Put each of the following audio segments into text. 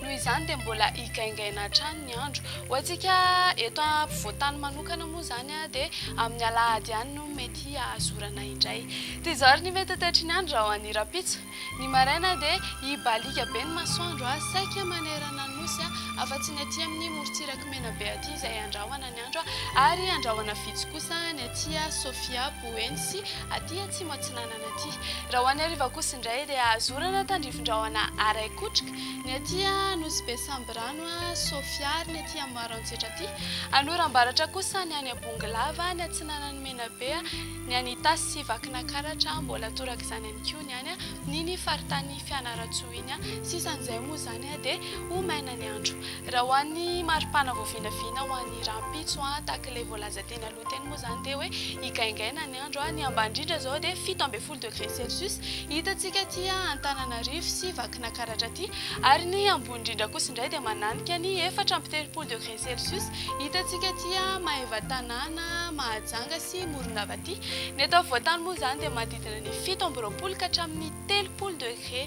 Noho izany dia mbola higaingaina hatrany ny andro. Ho antsika eto ampovoan-tany manokana moa izany dia amin'ny alahady ihany no mety hahazorana indray. Toy izao ary ny mety ho toetry ny andro raha ho an'ny rahampitso. Ny maraina dia hibaliaka be ny masoandro saika manerana ny nosy afa-tsy ny aty amin'ny morontsiraky Menabe aty izay handrahona ny andro ary handrahona vitsy kosa ny aty Sofia, Boeny sy aty Atsimo Atsinanana aty. Raha ho an'ny hariva kosa indray dia hahazorana tandrifin-drahona araikotroka. Ny aty a Nosy be Sambirano a, Sofia ary ny aty Amboaro Antsetra aty. Anora Ambaratra kosa ny any Abongolava, ny atsinanan'i Menabe a, ny any Itasy sy Vakinakaratra a, mbola torak'izany ihany koa ny any amin'iny faritany Fianarantsoa iny a. Sisa an'izay moa izany a dia ho maina ny andro. Raha ho an'ny maripana vao vinavina ho an'ny rahampitso a, tahak'ilay voalaza teny aloha teny moa izany dia hoe higaingaina ny andro a, ny ambany indrindra izao dia fito ambin'ny folo telopolo degré celsius hitantsika aty Antananarivo sy Vakinakaratra aty, ary ny ambony indrindra kosa indray dia mananika ny efatra amby telopolo degré celsius hitantsika aty Maevatanàna, Mahajanga sy Morondava aty. Ny eto afovoantany moa izany dia manodidina ny fito amby roapolo ka hatramin'ny telopolo degré.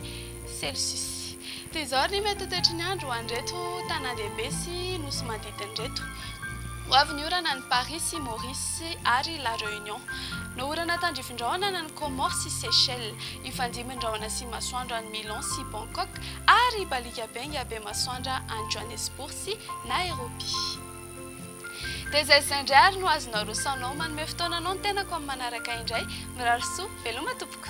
Celsius. Toy izao ary ny mety ho toetry ny andro ho an'ireto tanàndehibe sy nosy manodidina ireto, Ho avy ny orana any Paris sy Maurice ary La Réunion. No orana tandrifin-drahona any amin'ny Comores sy Seychelles. Hifandimby ny rahona sy masoandro any Milan sy Bangkok ary hibaliaka benga be masoandra any Johannesburg sy Nairobi. Dia izay izay indray ary no azonao rosaonao manome fotoananao ny tenako amin'ny manaraka indray. Mirary soa, veloma tompoko.